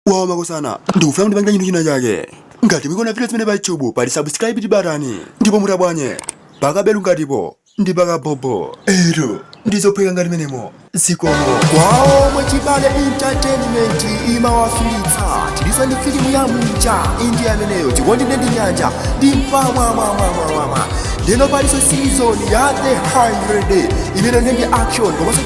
wawa makosana ndikufuna mundipangile chinthu china chake ngati mukuona video zimene pa youtube pali subscribe batani ndipo mutabanye pakabelu ngatipo ndi pakabhobho eya ndizophweka ngati mmenemo zikomo kwawo mwachibale entertainment imawafikitsa tilinso ndi filimu ya mucha indi ameneyo chikondi ndi nyanja ndi mpamwamwamwamwamwa lero palinso season ya the 100 imene ndi action komanso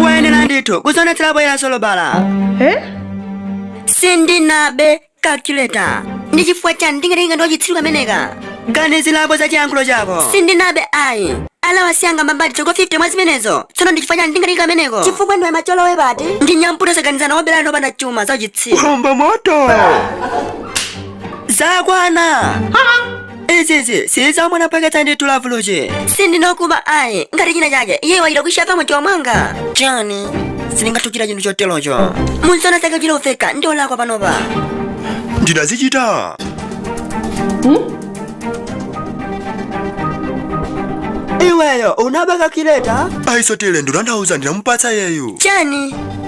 kuyenera ndithu kudzionetsera poyera sunabe Eh? sindinabe calculator ndi chifukwa chani ndingatenge ndi wachitsiru kameneka ganizirapo za chiyankhulo chako sindinabe ayi alawa sindingamve mbali yako 50 mwa zimenezo tsono ndi chifukwa chani ndingatenge kameneko chifukwa ndiwe macholowe pati ndi nyamputa saganizana wabelani opanda chuma za uchitsiru Komba moto! zakwana izi sizamwana paketa ndi tulavuluji sindinabe ayi ngati china chake iye wachita kushapa mtima mwanga chani sindingatukira chinthu choterocho munsana zake ndioneke wolakwa panopa ndidazichita iweyo unaba calculator aisotile ndinandauza ndinamupatsa uyu chani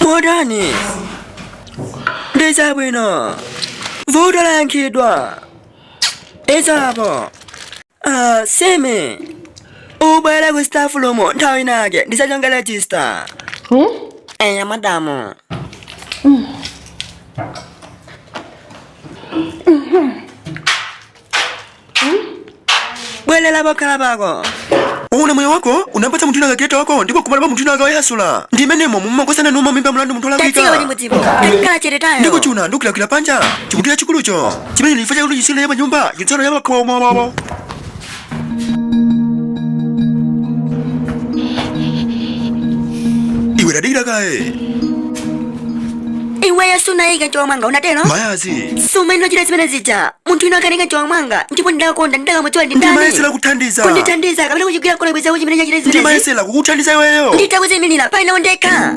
motani ndiye chabwino vuto layankhidwa izapo ah, Simi ubwere ku staff room nthawi inake ndisanachonge register Hmm? eya madamu bwelela pokhala pako uwona moyo wako unapatsa munthu wina calculator wako ndipo kumala pa munthu inaka wayasula ndi imenemo mumakosana nawo mimba mlandu munthu tatsika olakwika kuti mudzipo takhala chete tayo ndiko chuna ndikukilakwila panja chikutira chikulucho chimene ndifa chakuti chisina ya panyumba chitsano ya pakhomo wawo iwe tadikira kaye iweyo sunaike mchikwama mwanga unatero ayi si amene unachita zimene zija munthu wina anaika mchikwama mwanga ndipo ndidakakonda ndidakamudziwa ndi ndani ndimayesera kuthandiza kundithandiza kapena kundigwira kola bweza kuchimene chachita zimene ndimayesera kukuthandiza iweyo nditakuzimirira pali nawo ndekha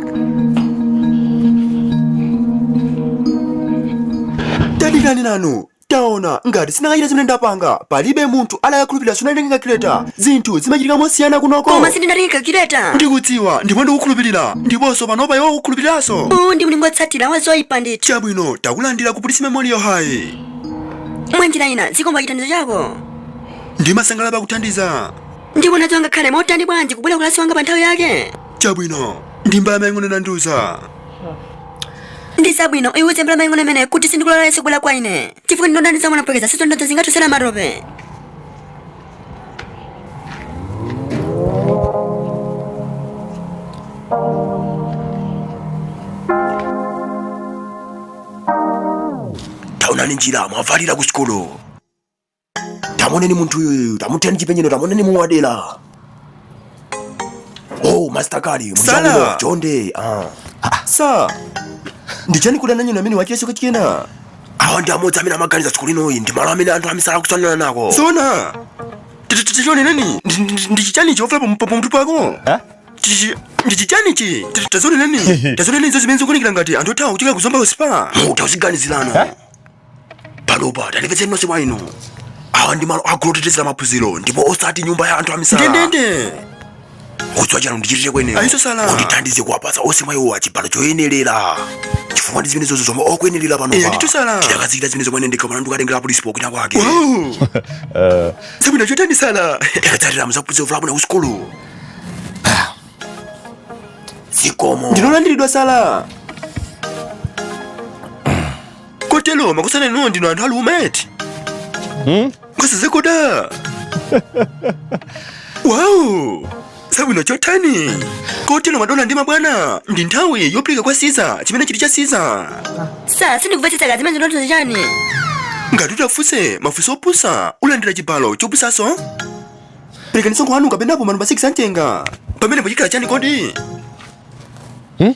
tadikani nanu Taona, ngati sindakachita zimene ndapanga, palibe munthu adakakhulupirira sunatenge calculator. Zinthu zimachitika mosiyana kunoko. Koma sindinatenge calculator. Ndikudziwa, ndipo ndikukhulupirira. Ndiponso panopa iwe ukukhulupiriranso. Uwu ndi mlingo wotsatira wa zoipa ndithu. Chabwino, takulandira ku Pulisi Memorial High. Mwa njira ina, zikomo pa chithandizo chako. Ndimasangalala pakuthandiza. Ndipo nacho angakhale motani bwanji kubwera ku kalasi mwanga pa nthawi yake? chabwino ndi Mbala mayi ang'ono nandiuza ndi zabwino iwe uuze Mbala mayi ang'ono imene kuti sindikulola yesu kubwera kwa ine chifukwa ndinonda ndizamulapwekeza sitifuna zingatitsera matope taonani njira mwavalira ku sukulu tamuoneni munthu uyuyu tamutheni chipenyero tamuoneni muwadela oh master kali Sala. mshangulo chonde ah sa ndichani kudana nyina amene wachimeso kachikena awa ndi amodzi amene amaganiza tsiku linoyi ndi malo amene anthu amisala akusonkhana nako zona tachioneni ndichichani chofe pamutu pako Eh? Chichi- ndichichani chi Ti- tazioneni tazioneni izo zimene zikuonekera ngati anthu othawa kuchoka ku Zomba usipa muta uziganizirana Eh? panopa tandimvetseni nonse mwa inu awa ndi malo aakulu otetezera maphunziro ndipo osati nyumba ya anthu amisala ndendende mudziwa chani ndichitire kwenewo Ayiso sala. mundithandize kuwapatsa onse mwa iwo chibalo choyenerera chifukwa ndi zimene zonse zomwe akuyenerera Eya, panopa ndithu sala. tidakazikita zimene zomwe ndikanapanga ndikatengera apolisi popanda kwake Wow. zabwino chotani sala tikatsatira muzaphunzira vulabu na usikulu zikomo ndinu olandiridwa sala kotero makosana inuyo ndinu anthu aamuna eti hmm? nkosazekuda wawu zabwino chotani kotero madona ndi mabwana ndi nthawi yopereka kwa Kaisala chimene chili cha Kaisala sa sindikumvetsetsa zimene mukutanthauza chani ngati utafuse mafunso opusa ulandira chibalo chopusaso perekaninso m'khwanu kapena pa manumba 6 antenga pamene pochikhala chani kodi hmm?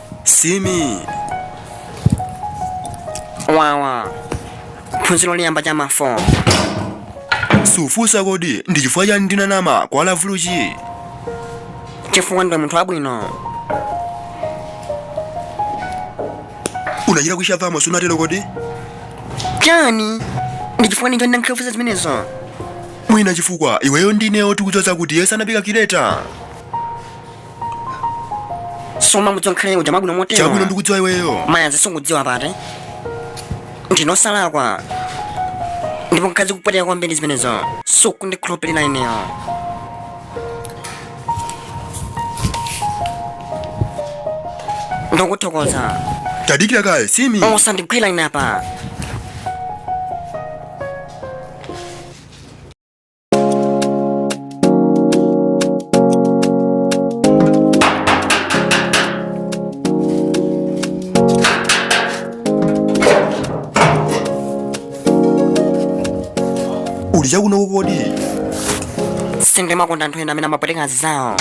simi wawa phunziro loyamba cha mafo sufunsa kodi ndi chifukwa chani ndinanama kwa lavuluchi chifukwa ndi munthu wabwino unachita kuikhapamo sunatero kodi chani ndi chifukwa ninji ukundifunsa zimenezo mwina chifukwa iweyo ndi ineyo tikudziwa kuti iye sanapike kireta sumamudziwa kale uja mwabwino motero chabwino ndikudziwa iweyo mayazi sukudziwa koma ndine wosalakwa ndipo zikupweteka kwambiri zimenezo sukundikhulupirira ineyo ndikuthokoza tadikira kaye simi osandigwira ine apa uli chakuno kodi sindimakonda anthu ena amene amapweteka zawo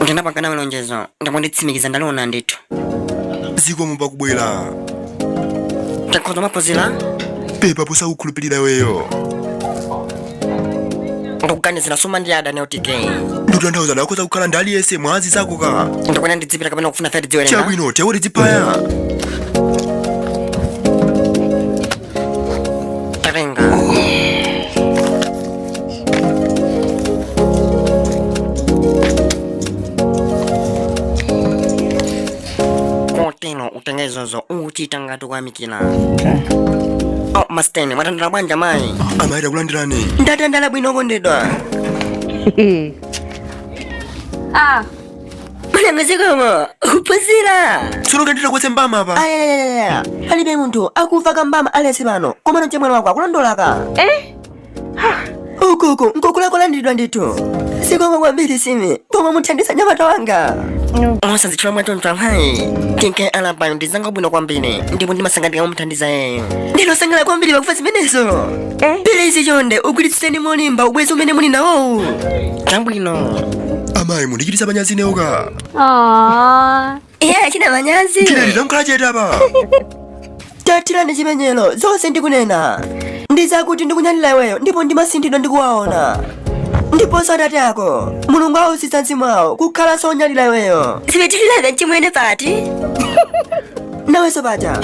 ndinapanga nawe lonjezo ndipo ndikutsimikiza ndaliona ndithu zikomo pakubwera tikhoza kuphunzira pepa posakukhulupirira iweyo ndikuganizira suma ndi adani otk ndikutanthauza akhoza kukhala ndi aliyense mwa anzakoka ndikuona ndidzipita kapena kufuna fati dziwerenga chabwino tekuti dzipha kotero utenge izozo ukuchita ngati ukuyamikira oh, masteni mwatandala bwanji amayi amayi takulandirani ndatandala bwino kondedwa Ah, Mwana wazikomo, phunzira. tsono kandita kwetse mbama apa Ayayayaya, palibe munthu akufa kambama alesi pano, koma no chemwali wako akulondolaka. Eh? Uku nkukula. Walandiridwa ndithu. Zikomo kwambiri simi, pomuthandiza mnyamata wanga. Musazitchule mwatonto amayi. Tinke alapayo ndi mnzanga wabwino kwambiri, ndipo ndimasangalira kumuthandiza iyeyo. Ndine wosangalala kwambiri pakumva zimenezo. Please chonde ugwiritseni molimba ubwezi umene muli nawowu. Chabwino. amayi mukundichititsa manyazi ineyo ka Aww. Iye achita manyazi. tilali takhala chete apa Tadikirani achimwene zonse ndikunena. Ndizakuti ndikunyadira iweyo ndipo masinthidwe ndikuwaona. Ndiponso atate ako, Mulungu awusitse mzimu wawo akhalanso onyadira iweyo. Zipitirira mchimwene pati. nawe sabata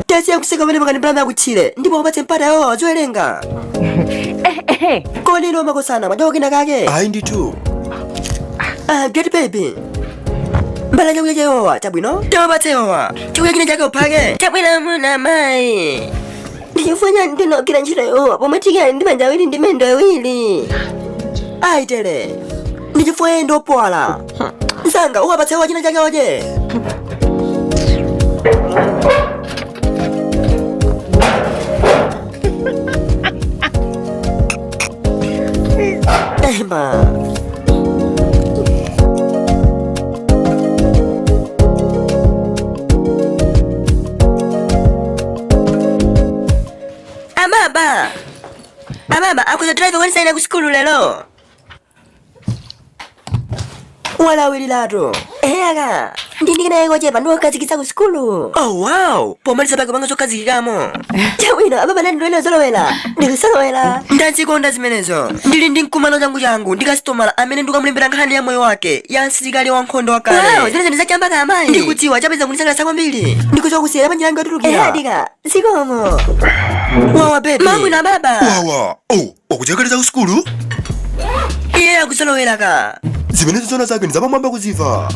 tasiyani kuseka pamene pakani pulani yakutchire ndipo apatse mpata awo aziwerenga kodi lomwe kosana madawo kena kake ayi ndithu Ah, eti baby mbala chakudya cha awowa chabwino tawapatse awowa chakudya china chake uphake chabwino muna mayi ndichifukwa chani ndikugwira ntchito ya awowa pomwe tikali ndi manja awiri ndi miyendo awiri ayi tere ndichifukwa iyeyo ndiwopuwala msanga ukawapatse awa china chake okay Ababa! Ababa, akuza driver wani saina kusikulu lelo. walawililatu eya ka ndili naye kochepa ndiwokazikitsa ku sukulu oh wow pomaliza pake panga zokazikikamo chabwino ababa nati ndiwone zolowera ndikusolowera ndazikonda zimenezo ndili ndi mkumano changu changu ndi kasitomala amene ndikamulembera nkhani ya moyo wake ya msilikali wa nkhondo wow wakale zimenezo ndizapamwamba ka amayi ndikudziwa chabe za kundisangalatsa kwambiri ndikudziwa kusiyera panjira yangu yotulukira eyadika zikomo wawa bebe chabwino ababa wawa oh ukukonzekera ku sukulu iye akuzolowera ka zimene zizona zake ndi zapamwamba kuzimva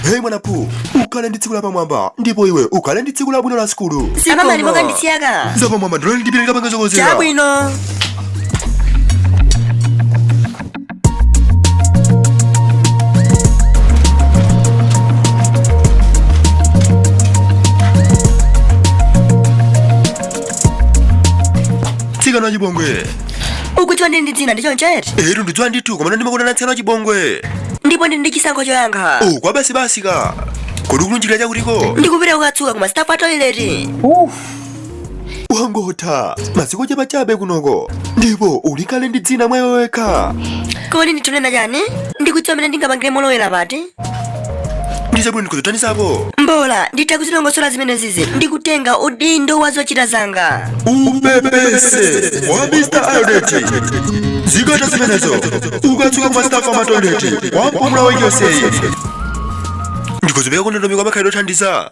heyi mwanawe ukhale ndi tsiku lapamwamba ndipo iwe ukhale ndi tsiku labwino la sukulu amamani mokandisiya ka zapamwamba ndilolindipirira pangezo kozera chabwino mtsikana wa chipongwe ukuti wandini ndi dzina ndi choncho eti etu ndidziwa ndithu koma ndimakuitana mtsikana wa chipongwe ndipo ndi ndi chisankho choyankha oh kwa basi basi ka kodi ukulunjika chakutiko ndikupita kukatsuka kuma staff toilet Uf, wangotha masiku chabechabe kunoko ndipo uli kale ndi dzina mwa iwe wekha kodi ndithu ukunena chani ndikudziwa mmene ndingapangire ukulowera pati ndizabwino ndikuzotanizapo mbola nditha kuzilongosola zimenezizi ndikutenga udindo wa zochita zanga umupepese wa mr aldeti zikatha zimenezo ukatsuka kuma staff toilet kwa mpumulo wenu wonsewu ndikudzipereka kundondomeko ya makhalidwe othandiza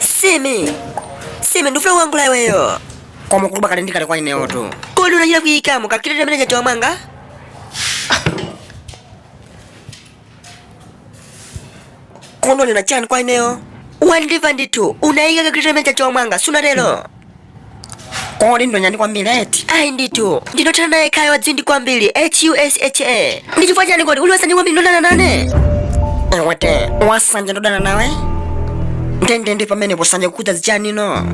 simi simi ndikufuna kuyankhula ndi iweyo koma ukuyankhula kale ndikale kwa ineyotu kodi unachita kuyikamo kakitete mchikwama mwanga kodi ukunena chani kwa ineyo wandimva ndithu unayika kakritemene cha chomwanga sunatero kodi ndonyani kwambiri eti ayi ndithu ndinothana naye kaya wadzimva kwambiri husha ndi chifukwa chani kodi uli wasanje kwambiri ukudana nane iwe eti wasanje ndodana nawe ndendende pamene wasanje ukuti zichanino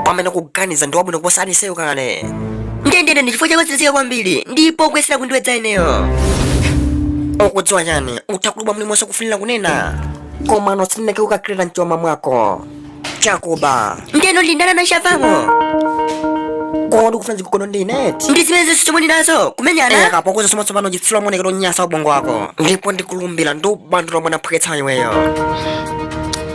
pamene ukuganiza ndi wabwino kuposa aliyense kale ndendende ndi chifukwa chake ndiwe wozizika kwambiri ndipo ukuyesera kundiwedza ineyo ukudziwa chani utha kuyankhula mulimonse ukufunira kunena koma nosineke ukakirira mchoma mwako chakuba ndeno ndindana nachavamo kodi ukufuna zikukono ndineti ndi zimene zonse chomwe ndinazo kumenyana akapokoza somo tsopano chitsiru maonekedwe onyansa ubongo wako ndipo ndikulumbira ndikupanda mwana wophweketsa iweyo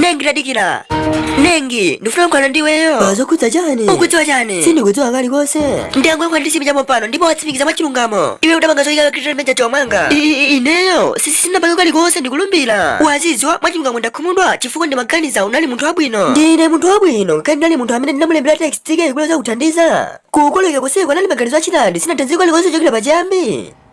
nengi tadikira nengi ndifuna kukamba ndiweyo pazokhudza chani ukudziwa chani sindikudziwa kalikonse ndangoika mafunso ndi sipinali chapompano ndipo watsimikiza mwachilungamo iwe udapanga zoyika kakitira meja chomanga I- i- ineyo sisindinapange kalikonse ndikulumbira ukudziwa mwachilungamo ndakhumudwa chifukwa ndimaganiza unali munthu wabwino ndine munthu wabwino kapena ndinali munthu amene ndinamulembera text Tike kuti adza kuthandize kukolekera kuseko anali maganizo a Shiladi sinathandize kalikonse kuchokera pachiyambi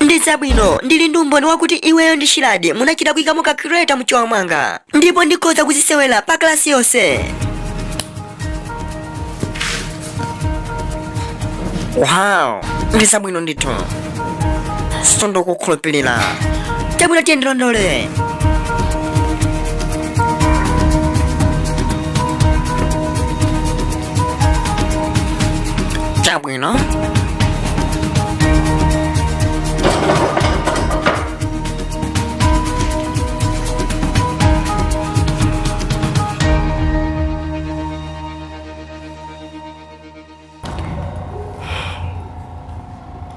Ndi zabwino, ndili ndi umboni wakuti iweyo ndi Shiladi munachita kuyikamo ka creator mchiwa mwanga ndipo ndikhoza kuzisewera pa klasi yonse. Wow, ndi zabwino ndithu. Sindikukukhulupirira. Chabwino tiye ndilondole. you know?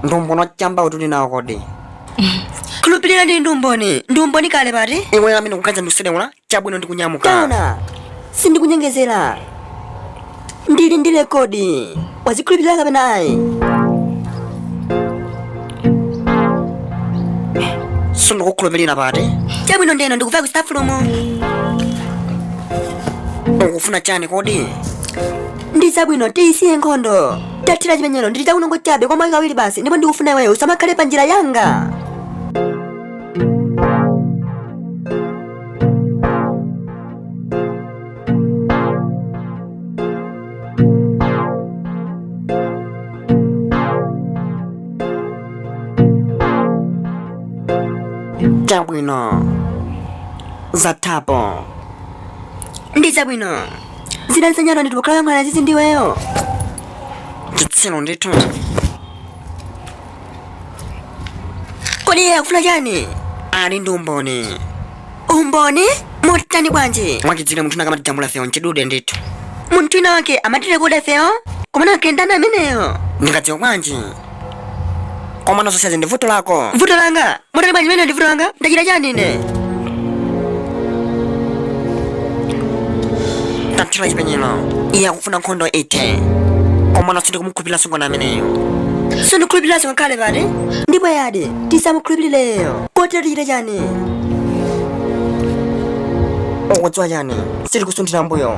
ndi umboni wa chamba umati uli nawo kodi ukukhulupirira ndi umboni ndi umboni kale pati iwe amene kukhadza ndikusedeula Chabwino, ndikunyamuka. Taona, sindikunyengezera. Ndili ndi rekodi. Wazikhulupirira kapena ayi? Sindikukhulupirira pati. Chabwino ndiye ndikupita ku staff room. Ukufuna chani kodi? Ndi chabwino tiyisiye nkhondo. Tathira chipenyero ndili chakunongo chabe kwa mwayi kawiri basi ndipo ndikufuna iweyo usamakhale pa njira yanga. Chabwino. Zathapo. Ndi chabwino. Zina zinyalo ndi tukhala mwana zizi ndiweyo. Chitsiru ndithu. kodi iye akufuna chani ali ndi umboni umboni wotani bwanji mwachidziwikire munthu wina ankatijambula ifewo mchidule ndithu munthu wina wake amatirekoda ifewo koma angakhale ndani ameneyo ndingadziwa bwanji koma nazonso izi ndi vuto lako vuto langa motani bwanji mene ndivuto langa ndachita chani ine tathira chipenyero iye akufuna nkhondo eti komano sindikumukhulupirira sungona ameneyo sindikhulupirira singakhale pati ndipo yadi tisamukhulupirire iye kotero tichite chani ukudziwa chani sindikusunthira m'mbuyo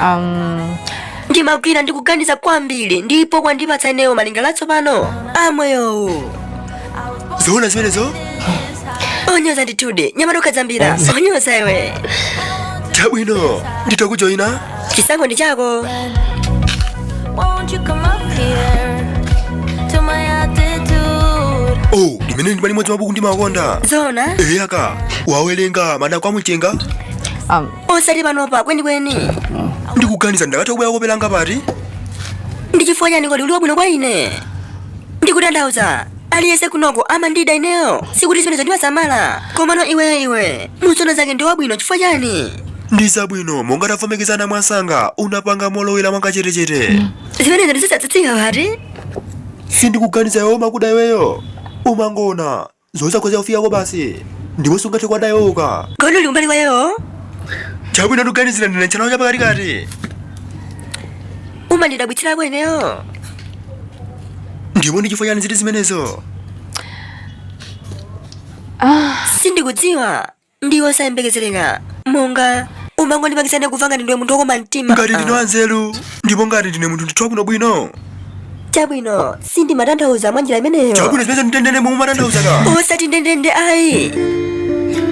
um, ndimagwa ndi kuganiza kwambiri ndipo kwandipatsa ineyo malingaliro atsopano a moyowu zoona zimenezo onyoza ndithu anyamata ukhadzambira onyoza iwe chabwino nditakujoyina chisankho ndi chako Won't you come up here to my attitude? oh limenelo ndi limodzi mwa mabuku ndimakonda zoona eya wawerenga madako amumchenga um, osati panopa kwenikweni ndikuganiza ndikatha kubwera kope langa pati ndi chifukwa chani kodi uli wabwino kwa ine ndikutanthauza aliyense kunoko amandida ineyo sikuti zimenezo ndimasamala komano iweyo iwe musono zake ndiwe wabwino chifukwa chani ndi zabwino monga tavomerezana mwansanga unapanga molowera mwakachetechete zimenezo ndizosangalatsa pati sindikuganiza iwo amakuda iweyo umangoona zosakhoza kufikako basi ndipo sungathe kuwadziwa koma uli kumbali kwawo chabwino ndikuganiza dzina lawo lapakatikati umandidabwitsirako ineyo ndipo ndi chifukwa chani zili zimenezo sindikudziwa ndi wosayembekezereka, monga, umangondipangitsa ine kumva ngati ndiwe munthu wokoma mtima. Ngati ndine wanzeru, ndipo ngati ndine munthu ndithu wabwinobwino, Chabwino, sindimatanthauza mwa njira imeneyo. chabwino zimene ndendende momwe umatanthauza ka. Osati ndendende ayi.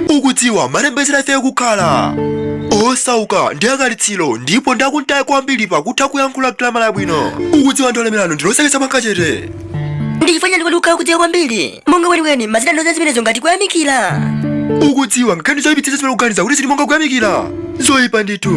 ukudziwa amalembetsera ife kukhala osauka ndi alitsiro ndipo ndi akutali kwambiri pakutha kuyankhula gramala yabwino ukudziwa ndi olemerawo ndi zoseketsa mwakachete Ndi chifukwa chani kodi ukukhala kudziwa kwambiri? monga kwenikweni umatanthauza zimenezo ngati kuyamikira ukudziwa nkhani zoyipitsitsa zimene ukuganiza kuti zili monga kuyamikira zoyipa ndithu